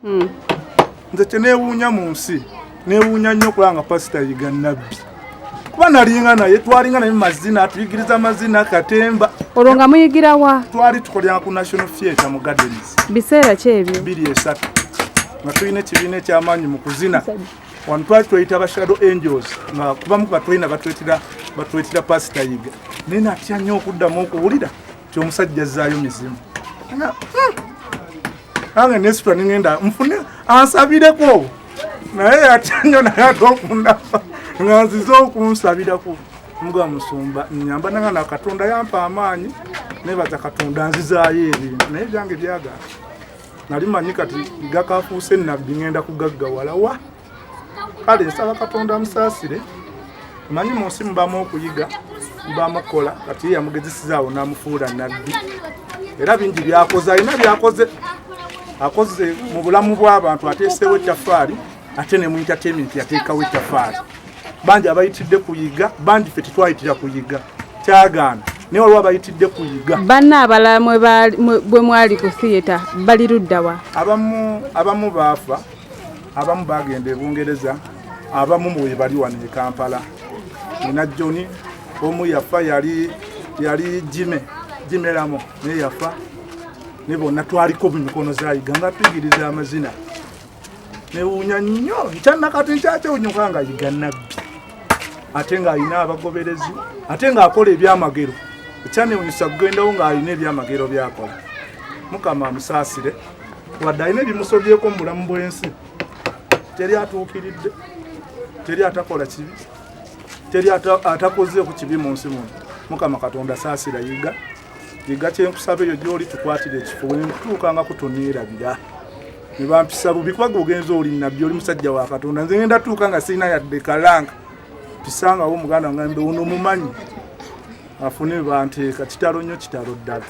hmm. nze kyenewuunya mu nsi newuunya nnyo okulanga pasita yiga nabbi kuba nalinga naye twalinga naye mumazina atuyigiriza amazina katemba olwo nga muyigira wa twali tukolera ku national theatre mu gardens biseera ki ebyo biri esatu nga tulina ekibiina ekyamaanyi mu kuzina wano twali tweyita ba shadow angels nga kubamu kuba tulina batwetera pasita yiga naye natya nnyo okuddamu okuwulira kyomusajja zaayo mizimu nange nesitwa ningenda nfune ansabireko naye yatanyo naye ate okundaba nga nzize okunsabirako muga musumba nyamba nanga na katonda yampa amaanyi nebaza katonda nzizaayo ebintu naye byange byagala nali manyi kati gakafuuse nabbi ngenda kugaggawala wa kale nsaba katonda amusaasire manyi mu nsi mubamu okuyiga mubamu okukola kati ye yamugezesizaawo n'amufuula nabbi era bingi byakoze alina byakoze akoze mu bulamu bw'abantu ateeseewo ettafaali ate ne mu entertainment yateekawo ettafaali bangi abayitidde kuyiga bangi fe tetwayitira kuyiga kyagaana naye waliwo abayitidde kuyiga banna abalala bwe mwali ku theatre bali luddawa abamu baafa abamu bagenda e bungereza abamu mwebali wano e kampala nina joni omu yafa yali yali jime jimeramo naye yafa ne bonna twaliko mumikono zayiga nga tuyigiriza amazina newuunya nnyo nkyannakati nkyakyewunyuka nga yiga nabbi ate ng'alina abagoberezi ate ng'akola ebyamagero ekyanewunyisa kugendawo ng'alina ebyamagero byakola mukama amusaasire wadde alina ebimusobyeko mu bulamu bw'ensi teri atuukiridde teri atakola kibi teri atakozeeku kibi mu nsi muno mukama katonda saasira yiga yiga kyenkusaba eyo gyoli tukwatira ekifo wenkutuuka nga kutoneerabira nebampisa bubi kubaga ogenza oli nabbi oli musajja wa katonda nze ngenda tuuka nga sirina yadde kalanga mpisangawo omuganda ngambe uno mumanyi afune banteeka kitalo nnyo kitalo ddala